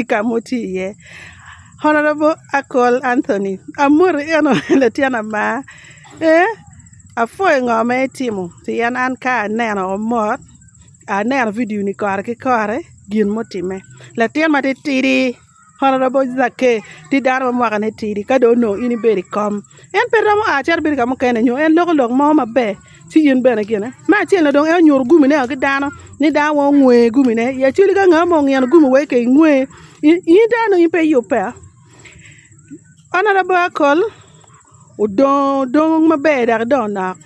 i ka ma wutye iye. Honorable Akol Anthony amoti eno latin ama eeh apwoyo ngo ma itimo pien an ka aneno omot aneno video ni kore ki kore gin mutime latin ma titidi honorable Zakeyo tye dano ma mwaka ne tidi ka dong onongo in ibedo i kom en pe romo a cito bedo ka mukene nyo en loko lok mo maber. ci in bene gine. Me acel ni dong en onyuto gumi ne ki dano ni dano wa ongwe gumi ne i aceli ka nga mo ongino gumi wa ka ingwe in dano nongo in pe iyub pe a honorable akol odongo dong maber dok idongo nok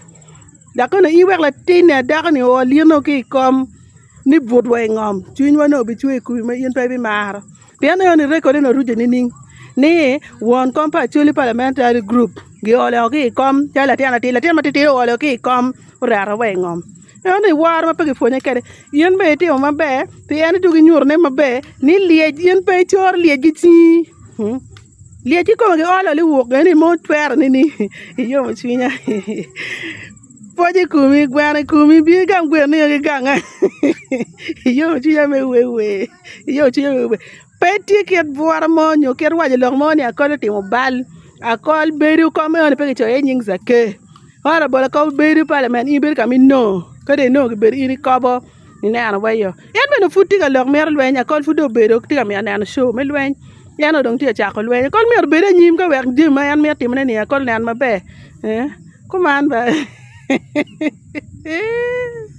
dok bene in wek latin ni adako ni oo lyeno ki ikom ni butwa i ngom cwinywa nongo bicwe i kumi ma in pe ibimaro pien ineno ni record eni oruco nining ni won kom pa Acholi Parliamentary Group giolo woko ki i kom calo latin atir latin ma titidi oolo ki i kom oreto wa i ngom ineno ni woro ma pe kipwonye kwede in bene itimo maber pien idwogo inyutone maber ni lyec in pe icoro lyec ki cingi lyec kikome giolo ni wok kene ni mo twero nini iyomo cwinya. Pwoc i komi, gweno i komi, bi i gang gweno nino ki ganga, iyomo cwinya me wer wer, iyomo cwinya me wer wer, pe tye kit bwura mo nyo kit waco lok mo ni akol otimo bal, akol bedo kong meno ni pe kicoyo iye nying Zakeyo, honorable akol bedo parliament in ibedo ka ma inongo ka dong inongo kibedo in ikobo. ineno wa iyo en bene pud tye ka lok mito lweny akol pud dong obedo tye ka mito neno co me lweny en dong onongo tye ka cako lweny akol myero obed anyim ka wek jami ma en mito timone ni akol onen maber kuman bene.